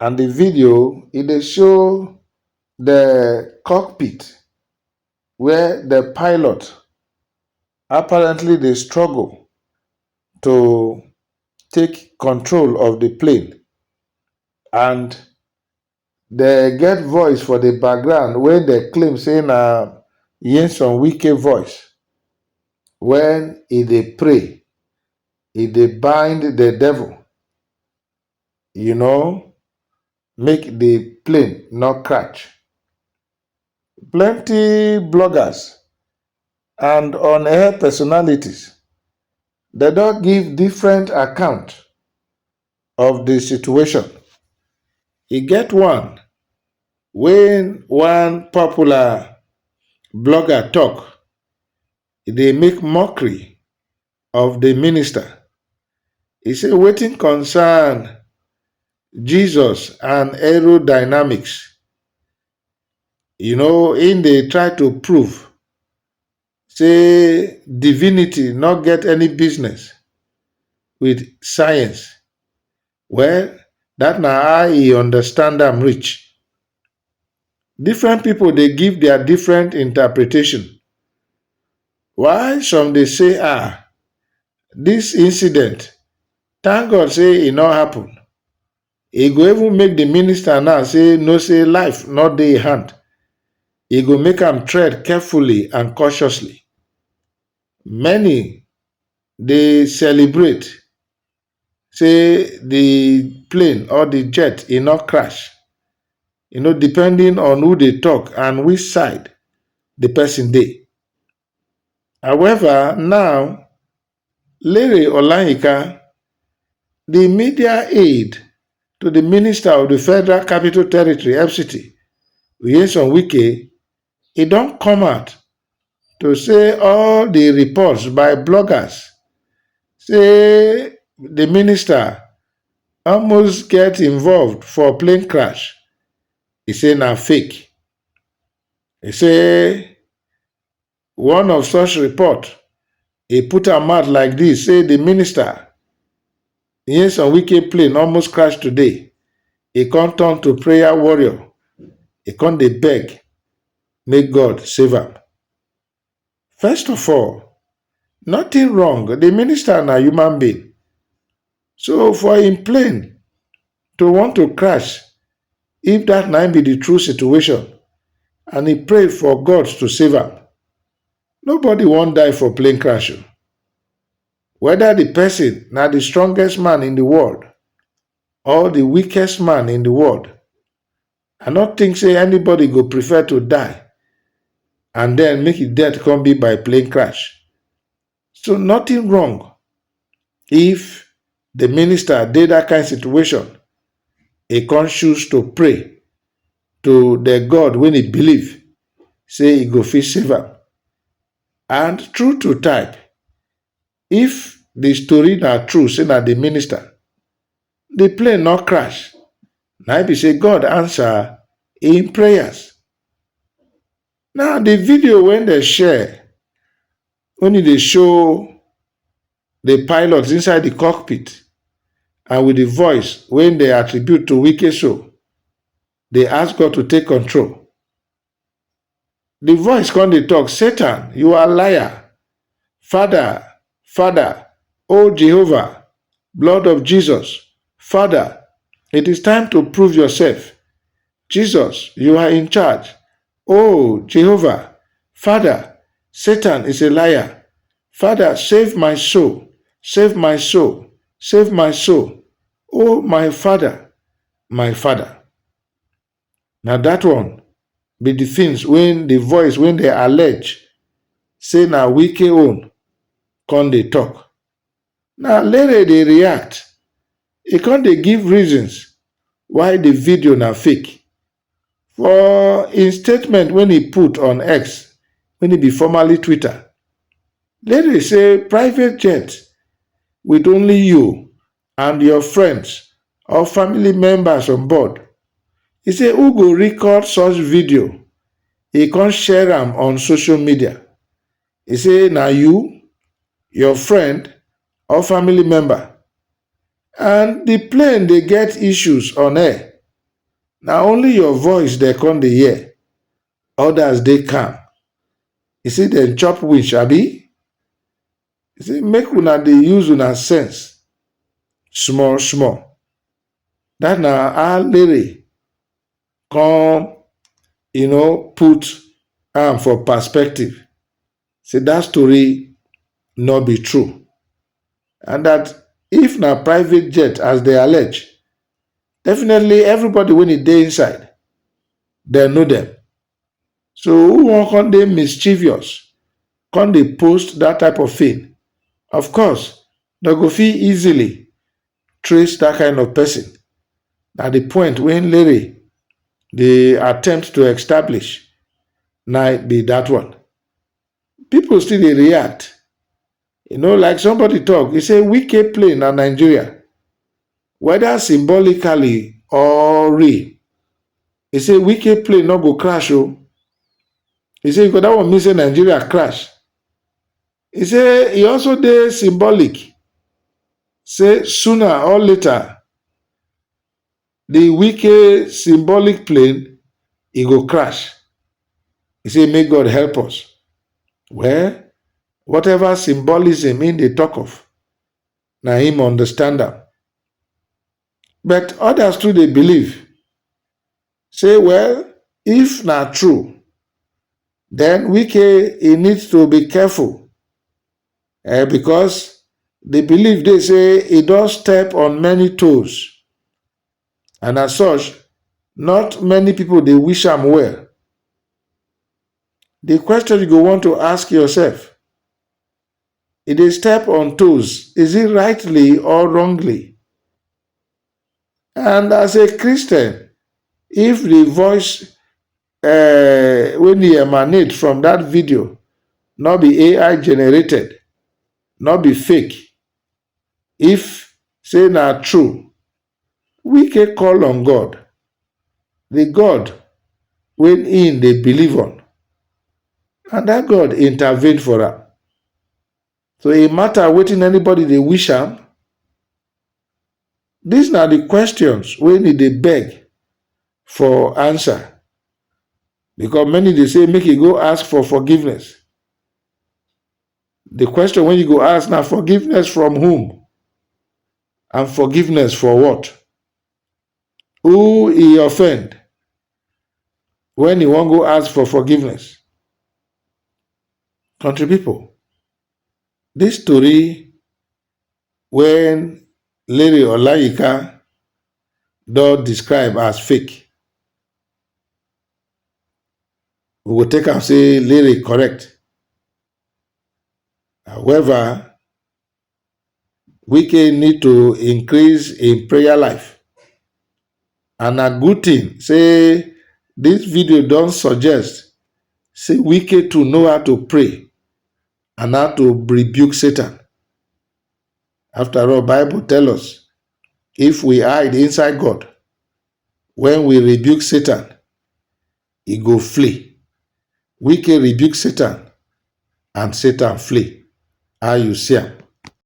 And the video e dey show the cockpit where the pilot apparently dey struggle to take control of the plane and they get voice for the background wey dey claim say na Nyesom Wike voice when e dey pray, e dey bind the devil you know, make the plane no catch. Plenty bloggers and on air personalities they don't give different account of the situation. E get one when one popular blogger talk, e dey make mockery of di minister, e say wetin concern Jesus and aerodynamics, you know im dey try to prove say divinity no get any business wit science. Well dat na how e understand am reach. Different pipu dey give dia different interpretation while some dey say um dis incident thank God sey e no happen, e go even make de minister now sey know sey life no dey im hand, e go make am tread carefully and cautiously. Many dey celebrate sey the plane or the jet e no crash. You know depending on who dey talk and which side the person dey. However now, Lere Olayinka, the media aid to the minister of the Federal Capital Territory, FCT, Nyesom Wike e don come out to say all di reports by bloggers say di minister almost get involved for plane crash e say na fake e say one of such report e put am out like dis say di minister Nyesom Wike plane almost crash today, e come turn to prayer warrior, e come dey beg make God save am. First of all, nothing wrong, the minister na human being. So for im plane to want to crash, if that na im be the true situation, and e pray for God to save am, nobody wan die for plane crash o. Weda di pesin na di strongest man in di world or di weakest man in di world, I no tink say anybody go prefer to die and den make e death come be by plane crash. So nothing wrong if di minister dey dat kain situation, e come choose to pray to di God wey e believe say e go fit save am. And true to type, if the story na true say na the minister, the plane no crash, na im be say God answer im prayers. Now the video wey dem share only dey show the pilots inside the cockpit and with the voice wey dey attribute to Wike so dey ask God to take control. Di voice kon dey tok, Satan, yu are liar! Fada, Fada, O Jehovah, blood of Jesus, Fada, it is time to prove yourself! Jesus, yu are in charge! O Jehovah, Fada, Satan is a liar! Fada, save my soul, save my soul, save my soul, O my Fada, my Fada! Na dat one be the things wey the voice wey dey allege say na Wike own come dey talk. Na Lere dey react, e come dey give reasons why the video na fake. For im statement wey e put on X, wey e be formerly Twitter, Lere say private jet with only you and your friends or family members on board, e say who go record such video, e come share am on social media. E say na you, your friend or family member and di plane dey get issues on air, na only your voice dem come dey hear, odas dey calm. E say dem chop winch abi? He say make una dey use una sense small small. That na how Lere come you know put am for perspective say that story no be true and that if na private jet as they allege, definitely everybody wey e dey inside dem know dem So who wan come dey mischievous, come dey post that type of thing? Of course, dem go fit easily trace that kind of person. Na the point wey Lere dey attempt to establish na be that one. People still dey react. You know, like somebody talk, he say Wike play na Nigeria, whether symbolically or real. He say Wike play no go crash o. Oh. He say because that one mean say Nigeria crash. He say he also dey symbolic. Say sooner or later, Di Wike symbolic plane e go crash, e say make God help us. Well, whatever symbolism im dey tok of, na im understand am. But odas too dey believe say well, if na true, den Wike e need to be careful um because di belief dey say e don step on many toes and as such not many people dey wish am well. Di question you go want to ask yourself, e dey step on toes is it rightly or wrongly and as a Christian if di voice um wey dey emanate from dat video no be ai generated no be fake if say na true wike call on god di god wey im dey believe on and dat god intervene for am So e matter wetin anybody dey wish am? Dis na di questions wey e dey beg for answer because many dey say make e go ask for forgiveness. Di question wey you go ask na forgiveness from whom and forgiveness for what? who e offend when e wan go ask for forgiveness. Country people, this story when Larry Olayinka don describe as fake, we will take and say Larry correct. However, Wike need to increase im prayer life and na good thing say this video don suggest say Wike too know how to pray and how to rebuke Satan. After all, Bible tell us if we hide inside God when we rebuke Satan, e go flee. Wike rebuke Satan and Satan flee, how you see am?